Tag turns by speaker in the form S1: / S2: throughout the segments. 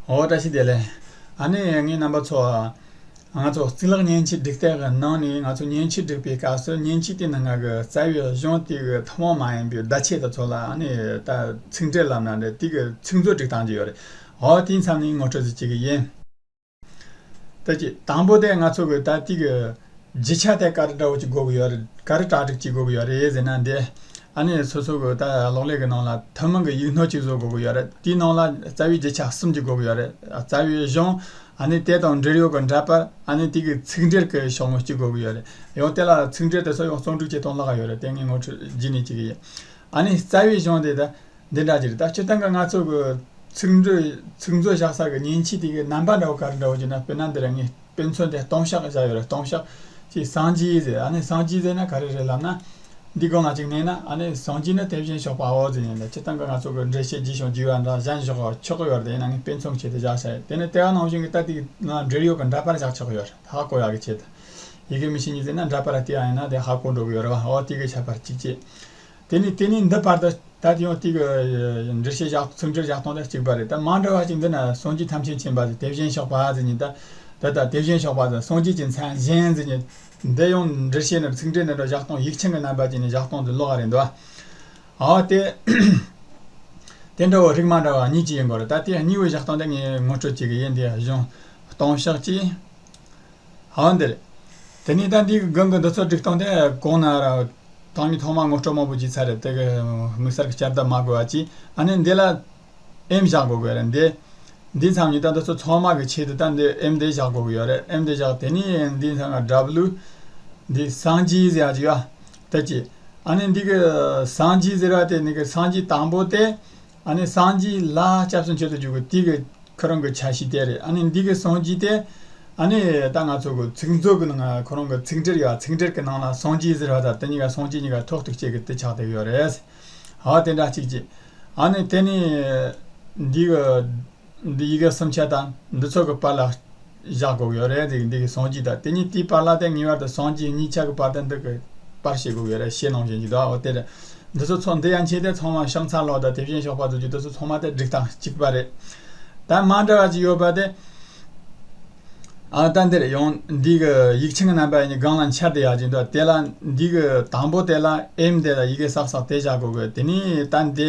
S1: འོ་བཀྲ་ཤིས་བདེ་ལེགས། ཨ་ནེ་ཡེ་ངའི་རྣམ་པ་ཚོ། ང་ཚོ་རྩིས་ལག་བརྙན་ཕྱིར་བསྒྲིགས་སྟེགས་ཀྱི་ནང་ནས་ང་ཚོ་བརྙན་ཕྱིར་བསྒྲིགས་པའི་སྐབས་སུ་བརྙན་ཕྱིའི་སྟེང་ན་ང་གི་རྩ་བའི་གཞུང་དེ་གི་ཐུན་མོང་མ་ཡིན་པའི་བརྡ་ཆད་དེ་ཚོ་ལ་ཨ་ནེ་ཡེ་ད་ཚིག་འགྲེལ་ལབ་ན་འདྲ་དེ་གི་ཚིག་མཛོད་བསྒྲིགས་བཏང་གི་ཡོད་རེད། འོ་དེའི་མཚམས་ནས་ངོ་སྤྲོད་ཅིག་བྱེད་ཀྱི་ཡིན། ད་ཅི། དང་པོ་དེ་ང་ཚོ་གི་ད་ཏིག་གི། བརྗིད་ཆགས་ཐད་ཀར་དགྲ་བོ་གཅིག་འགོག་གི་ཡོད་རེད་ག་རེ་དྲག་སྒྲིག་གཅིག་འགོག་གི་ཡོད་རེད་ཟེར་ན་འདི་ཨ་ནེ་ཚོ་ཚོ་གི་ལྟ་ལོག་ལས་ཀྱི་ནང་ལ་ཐུན་མོང་གི་ཡིག་ནོར་གཅིག་བཟོ་འགོག་གི་ཡོད་རེད་དེའི་ནང་ལ་རྩ་བའི་བརྗིད་ཆགས་གསུམ་གཅིག་འགོག་གི་ཡོད་རེད་རྩ་བའི་གཞུང་ཨ་ནེ་དེ་དང་འབྲེལ་ཡོད་ཀྱི་འདྲ་པར་ཨ་ནེ་དེ་གི་ཚིག་འགྲེལ་གྱི་ཤོག་ངོས་གཅིག་འགོག་གི་ཡོད་རེད་ཡང་དེ་ལ་ཚིག་འགྲེལ་དེ་ཚོ་ཡང་བཙོང་སྒྲིག་བྱེད་སྟངས་ལྷག་གི་ཡོད་རེད་དེ་ངས་ངོ་འཕྲོད་བགྱིས་ནས་བྱེད་ཀྱི་ཡོད་ཨ་ནེ་རྩ་བའི་གཞུང་དེ་ད་འདི་འདྲ་གྱི་རེད་ད་སྤྱིར་བཏང་གི་ང་ཚོ་གི་ཚིག་མཛོད་བཞག་ས་གི་མཉེན་ཆས་དེ་གི་རྣམ་པ་འདྲ་བོ་ག་རེ་འདྲ་བོ་བྱས་ན་དཔེར་ན་འདི་ར་ངས་དཔེ་མཚོན་དེ་སྟོང་ཤག་བཞག་ཡོད་རེད་སྟོང་ཤག། ཅེས་སངས་རྒྱས་ཟེར་ཨ་ནི་སངས་རྒྱས་ཟེར་ན་ག་རེ་རེད་ལབ་ན། འདི་སྒོ་ང་གཅིག་མེད་ན་ཨ་ནི་སངས་རྒྱས་ནི་དེ་བཞིན་ཞོགས་པའོ་ཟེར་ཡིན་ལ་ཁྱེད་རྟ་མགོ་ང་ཚོ་གི་འགྲེལ་བཤད་བགྱིས་ཤོག་བགྱིས་བ་འདྲ་གཞན་བཞག་ཆོག་གི་ཡོད་རེད་ཡིན་ན་ནི་དཔེ་མཚོན་བྱས་ཏེ་བཞག་བྱ་ཡོད་དེ་ནི་ལྟེ་བ་ནང་བཞིན་གྱི་རྟ་དེའི་ནང་འབྲེལ་ཡོད་ཀྱི་འདྲ་པར་བཞག་ཆོག་གི་ཡོད་རེད་ཧ་གོ་ཡག་གི་ཆེད་དུ། ཡི་གེ་མི་ཤེས་ཉི་ཟེར་ན་འདྲ་པར་ལྟེ་བ་ཡིན་ན་དེ་ཧ་གོ་འགྲོ་གི་ཡོད་རེད་བ་ཨོ་དེ་གའི་ཁྱད་པར་གཅིག་ཅེས། དེ་ནི་དེ་ནས་འདི་བར་དུ་ད་དུ་ཡང་དེའི་འདྲི་བྱེད་བཞག་ཚིག་འདྲིར་བཞག་སྟངས་དང་གཅིག་པ་རེད་ད་མ་འདྲ་བ་ཅིག་འདི་ན་སངས་རྒྱས་ཐམས་ཅད་མཁྱེན་པ་དེ་བཞིན་གཤེགས་པ་ཟེར་ཉིད་ད་ད་ལྟ་དེ་བཞིན་གཤེགས་པ་ཟེར་སངས་རྒྱས་ཀྱི་མཚན་གཞན་ཟེར་ཉིད་འདི་ཡང་འདྲི་བྱེད་ནི་ཚིག་འདྲི་འདི་འདྲ་བཞག་སྟངས་ཡིག་ཆེན་གྱི་རྣམ་པ་ཅིག་ནས་བཞག་སྟངས་འདི་ལོག་རེད་འདུག་ཨ་ཨོ་དེ་དེ་འདྲ་བོ་རིགས་མ་འདྲ་བ་གཉིས་ཅིག་ཡིན་དགོས་རེད་ད་དེ་གཉིས་པོ་བཞག་སྟངས་འདི་ངས་ངོ་སྤྲོད་བྱེད་ཀྱི་ཡིན་དེ་བཞིན་སྟོང་ཤག་ཅེས། ཧཱུྃ་འདི་ལས། དེ་ནས་ལྟ་འདིའི་དགུན་གྱི་འདུ་ཚོགས་བསྒྲིགས་སྟངས་དེ་གོང་ན་ར། དང་གི་ཐོག་མར་ངོ་སྤྲོད་མང་པོ་བགྱིས་ཚར་རེད་དེ། དམིགས་བསལ་གྱི་བསྐྱར་ལྡབ་མ་དགོས་པ་གྱིས་ཨ་ནི་འདི་ལ། ཨེམ་བཞག་དགོས་གི་རེད། འདིའི་མཚམས་ཉིད་ལྟ་འདུ་ཚོགས་ཚང་མ་གི་ཆེད་དུ་ལྟ་འདི་ཨེམ་འདི་བཞག་དགོས་གི་ཡོད་རེད་ཨེམ་འདི་བཞག་དེ་ནས་འདིའི་མཚམས་ལ་སྒྲ་བླུ། འདི་སངས་རྒྱས་ཟེར་གྱི་ཡོད། དེ་གྱིས། ཨ་ནི་འདི་གི་སངས་རྒྱས་ཟེར་བ་དེ་ནི་གི་སངས་རྒྱས་དང་པོ་སྟེ། ཨ་ནི་སངས་རྒྱས་ལ་སྐྱབས་སུ་མཆི་དུ་འཇུག་གི་དུས་ཀྱི་ཁོ་རང་གི་ཆ་ཤས་དེ་རེད་ཨ་ནི་འདི་གི་སངས་རྒྱས་དེ་ཨ་ནི་ད་ང་ཚོ་གི་ཚིག་མཛོད་ཀྱི་ནང་ཁོ་རང་གི་ཚིག་འབྲེལ་ཡོད་ཚིག་འབྲེལ་གྱི་ནང་ལ་སངས་རྒྱས་ཟེར་བ་དང་དེ་གཉིས་ཀ་སངས་རྒྱས་གཉིས་ཀ་ཐོག་ཐུག་བཅས་ཀྱི་དེ་ཆགས་བསྡད་ཡོད་རེད། ཧ་དེ་འདྲ་གཅིག་གཅིག་ཨ་ནི་དེ་ནི་འདི་གི། འདི་ཡི་གེ་གསུམ་ཆ་དང་འདི་ཚོགས་ཀྱི་བར་ལ་བཞག་དགོས་ཀྱི་ཡོད་རེད་འདི་ཀྱི་ཟངས་ཀྱི་དང་དེ་གཉིས་དེའི་བར་ལ་དེ་གཉིས་བར་དུ་ཟངས་ཀྱི་གཉིས་ཆ་གི་བར་དང་འདི་ཀྱི་བར་ཤེས་དགོས་ཀྱི་ཡོད་རེད་ཤེས་ནང་བཞིན་གྱི་དོ་འོ་དེ་རེད་འདི་ཚོ་ཚོགས་འདི་ཡང་ཆེ་དེ་ཚང་མ་ཤང་ཚ་ལོག་དང་དེ་བཞིན་ཤོག་པ་རྫོགས་རྒྱུ་དེ་ཚོ་ཚང་མ་དེ་སྒྲིག་སྟངས་གཅིག་པ་རེད་ད་མ་འདྲ་བ་ཅིག་ཡོད་པ་དེ་ཨ་ད་འདི་རེད་ཡང་འདི་ཀྱི་ཡིག་ཆ་གི་རྣམ་པ་གཉིས་སྒང་ལ་འཆར་དེ་ཡག་ཅིག་འདུག་དེ་ལ་འདི་ཀྱི་དང་པོ་དེ་ལ་ཨེམ་དེ་ལ་ཡི་གེ་གསག་གསག་དེ་བཞག་དགོས་ཀྱི་ཡོད་དེ་ནས་ད་འདི་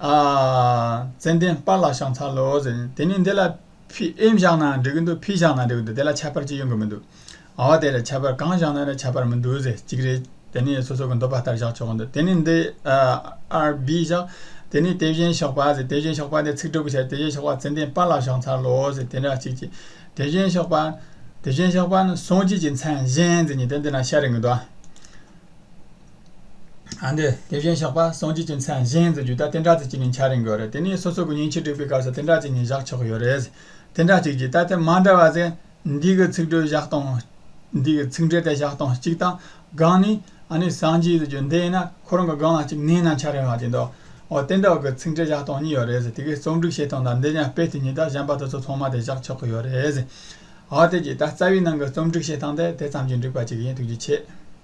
S1: ཙན་དན་སྤར་ལ་ཤང་ཚ་ལོ་ཟེར་དེ་ནི་འདི་ལ་ཕི་ཨེམ་བཞག་ན་འགྲིག་གི་འདུག་ཕི་བཞག་ན་འགྲིག་གི་འདུག་དེ་ལ་ཁྱད་པར་ཅི་ཡོང་གི་མི་འདུག་འོ་དེ་རེད་ཁྱད་པར་གང་བཞག་ན་རེད་ཁྱད་པར་མི་འདུག་ཟེར་གཅིག་རེད་དེ་ནི་སོ་སོ་གི་འདོད་པ་ལྟར་བཞག་ཆོག་གི་འདུག་དེ་ནི་འདི་ཨར་བྷི་བཞག་དེ་ནི་དེ་བཞིན་ཞོགས་པ་ཟེར་དེ་བཞིན་ཞོགས་པ་དེ་ཚིག་གྲུབ་ཀྱི་ཆ་རེད་དེ་བཞིན་ཞོགས་པ་ཙན་དན་སྤར་ལ་ཤང་ཚ་ལོ་ཟེར་དེ་འདྲ་གཅིག་གཅིག་དེ་བཞིན་ཞོགས་པ་དེ་བཞིན་ཞོགས་པ་ནི་སངས་རྒྱས་ཀྱི་མཚན་གཞན་ཟེར་གཉིས་དེ་འདི་ན་ཤར་རིང་གི་འདུག་ཨ། དེ་བཞིན་གཤེགས་པ་སངས་རྒྱས་ཀྱི་མཚན་གཞན་དུ་རྒྱུད་ལྟ་བསྟན་དགྲ་བྱེད་ཀྱི་ཉིན་འཆར་རིང་དགོས་རེད་དེ་ནས་སོ་སོ་གི་ཉིན་ཕྱེད་དྲུག་པའི་སྐབས་སུ་བསྟན་དགྲ་བྱེད་ཉིན་བཞག་ཆོག་གི་ཡོད་རེད། བསྟན་དགྲ་བྱེད་ཀྱི་ལྟ་དེབ་མ་འདྲ་བ་ཚེ་འདི་གི་ཚིག་འགྲོས་བཞག་སྟངས་འདི་གི་ཚིག་འགྲོས་དེ་བཞག་སྟངས་གཅིག་དང་སྒང་ནི་ཨ་ནི་སངས་རྒྱས་ཀྱི་རྒྱུད་འདི་ཡིན་ན་ཁོ་རང་གི་སྒང་ལ་གཅིག་གནས་ན་འཆར་རན་བ་དེ་འདུག་འོ་བསྟན་དགྲ་གི་ཚིག་འགྲོས་བཞག་སྟངས་གཉིས་ཡོད་རེད་དེ་གའི་རྩོམ་སྒྲིག་བྱེད་སྟངས་དང་འདི་ཉན་སྤེལ་དེ་གཉིས་དང་གཞན་པ་དེ་ཚོ་ཚང་མ་དེ་བཞག་ཆོག་གི་ཡོད་རེད། འོ་དེ་གྱིས་ད་རྩ་བའི་ནང་གི་རྩོམ་སྒྲིག་བྱེད་སྟངས་དེ་དེ་ཙམ་གྱིས་འགྲིག་པ་ཅིག་ཡིན་ཐུགས་རྗེ་ཆེ།